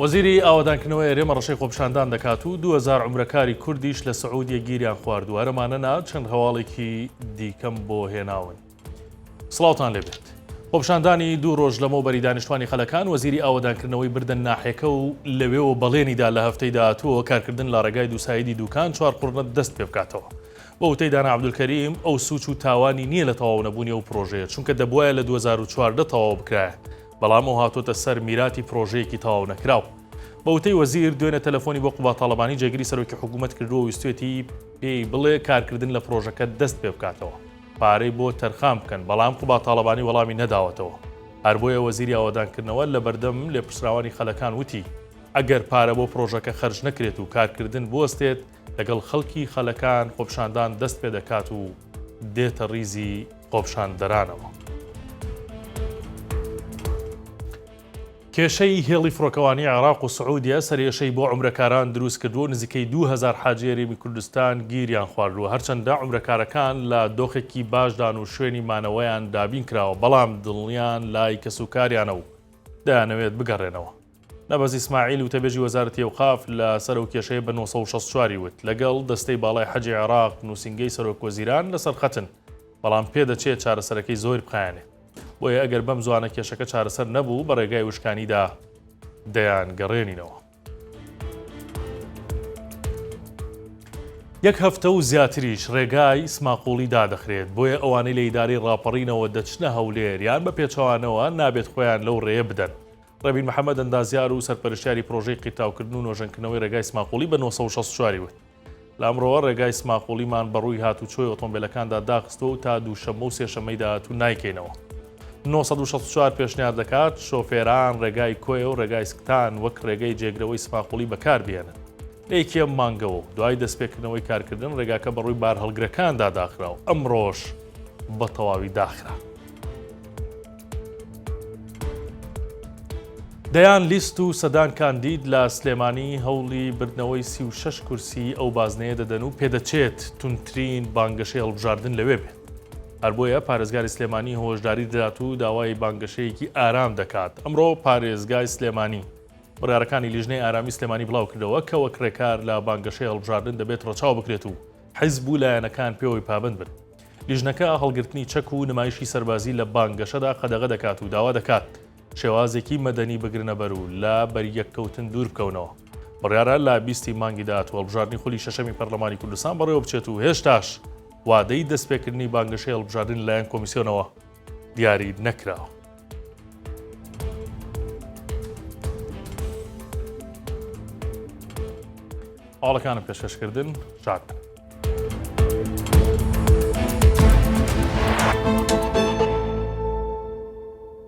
وەزیری ئاوەدانکردنەوەی ئەرێمە ڕەشەی خۆپشاندان دەکات و دوهزار عمرەکاری کوردیش لە سعودیە گیریان خواردووە هەرەمانە نا چەند هەواڵێکی دیکەم بۆ هێناون سڵاوتان لێبێت. خۆپشاندانی دوو ڕۆژ لەمەو بەری دانیشتوانی خەلەکان وەزیری ئاوەدانکردنەوەی بردن ناحێکە و لەوێەوە بەڵێنیدا لە هەفتەی داهاتووەوە کارکردن لە ڕێگای دووسایدی دووکان چوار قڕنە دەست پێ بکاتەوە. بە وتەی دانا عەبدولکەریم، ئەو سووچ و تاوانی نییە لە تەواو نەبوونی ئەو پڕۆژەیە، چونکە دەبوایە لە دوو هەزار و چواردە تەواو بکرایە، بەڵام ئەو هاتووەتە سەر میراتی پڕۆژەیەکی تەواو نەکراو. بە وتەی وەزیر، دوێنێ تەلەفۆنی بۆ قوباد تاڵەبانی جێگری سەرۆکی حکوومەت کردووە و ویستوێتی پێی بڵێ کارکردن لە پڕۆژەکە دەست پێ بکاتەوە، پارەی بۆ تەرخان بکەن، بەڵام قوباد تاڵەبانی وەڵامی نەداوەتەوە. هەر بۆیە وەزیری ئاوەدانکردنەوە لە بەردەم لێپرسراوانی خەلەکان وتی، ئەگەر پارە بۆ پڕۆژەکە خەرج نەکرێت و کارکردن بوەستێت، لەگەڵ خەڵکی خەلەکان خۆپشاندان دەست پێ دەکات و دێتە ڕیزی خۆپشاندەرانەوە. کێشەی هێڵی فڕۆکەوانی عێراق و سعودیە سەرێشەی بۆ عمرەکاران دروست کردووە نزیکەی 2000 حاجی هەرێمی کوردستان گیریان خواردووە هەرچەندە عمرەکارەکان لە دۆخێکی باشدان و شوێنی مانەوەیان دابین کراوە بەڵام دڵنیان لای کەسوکاریانە و دەیانەوێت بگەڕێنەوە. نەبەز ئیسماعیل وتەبێژی وەزارەتی ئەوقاف لە سەر ئەو کێشەیە بە نۆ سەد و شەست و چوار ی وت، لەگەڵ دەستەی باڵای حەجی عێراق نووسینگەی سەرۆکوەزیران لەسەر خەتن، بەڵام پێدەچێت چارەسەرەکەی زۆیر بخایەنێ. بۆیە ئەگەر بەم زوانە کێشەکە چارەسەر نەبوو، بە رێگای وشکانیدا دەیانگەڕێنینەوە. یەک هەفتە و زیاتریش رێگای سماقوڵی دادەخرێت، بۆیە ئەوانەی لە ئیدارەی راپەڕینەوە دەچنە هەولێر یان بە پێچەوانەوە، نابێت خۆیان لەو رێیە بدەن. ڕەبین محەمەد ئەندازیار و سەرپەرشتیاری پرۆژەی قیرتاوکردن و نۆژەنکردنەوەی ڕێگای سماقوڵی بە نۆ سەد و شەست و چوار ی وت، لە ئەمڕۆوە ڕێگای سماقوڵیمان بە ڕووی هاتووچۆی ئۆتۆمبێلەکاندا داخستووە و تا دووشەممە و سێشەممەی داهاتوو نایکەینەوە. نۆ سەد و شەست و چوار پێشنیار دەکات شۆفێران ڕێگای کۆیە و ڕێگای سکتان وەک ڕێگەی جێگرەوەی سماقوڵی بەکاربهێنن. لە یەکیەم مانگەوە و دوای دەستپێکردنەوەی کارکردن ڕێگاکە بە ڕووی بارهەڵگرەکاندا داخرا و ئەمڕۆش بە تەواوی داخرا. دەیان لیست و سەدان کاندید لە سلێمانی هەوڵی بردنەوەی سی و شەش کورسی ئەو بازنەیە دەدەن و پێدەچێت تونترین بانگەشەی هەڵبژاردن لەوێ بێت. هەر بۆیە پارێزگاری سلێمانی هۆشداری دەدات و داوای بانگەشەیەکی ئارام دەکات. ئەمڕۆ پارێزگای سلێمانی بڕیارەکانی لیژنەی ئارامی سلێمانی بڵاو کردەوە کە وەک رێکار لە بانگەشەی هەڵبژاردن دەبێت رەچاو بکرێت و حیزب و لایەنەکان پێوەی پابەند بن. لیژنەکە هەڵگرتنی چەک و نمایشی سەربازی لە بانگەشەدا قەدەغە دەکات و داوا دەکات شێوازێکی مەدەنی بگرنەبەر و لە بەریەککەوتن دوور بکەونەوە. بڕیارە لە بیست ی مانگی داهاتوو هەڵبژاردنی خولی شەشەمی پەرلەمانی کوردستان بەڕێوەبچێت و هێشتاش وادەی دەستپێکردنی بانگەشەی هەڵبژاردن لەلایەن کۆمیسیۆنەوە دیاری نەکراوە. هەواڵەکانم پێشکەشکردن شاد.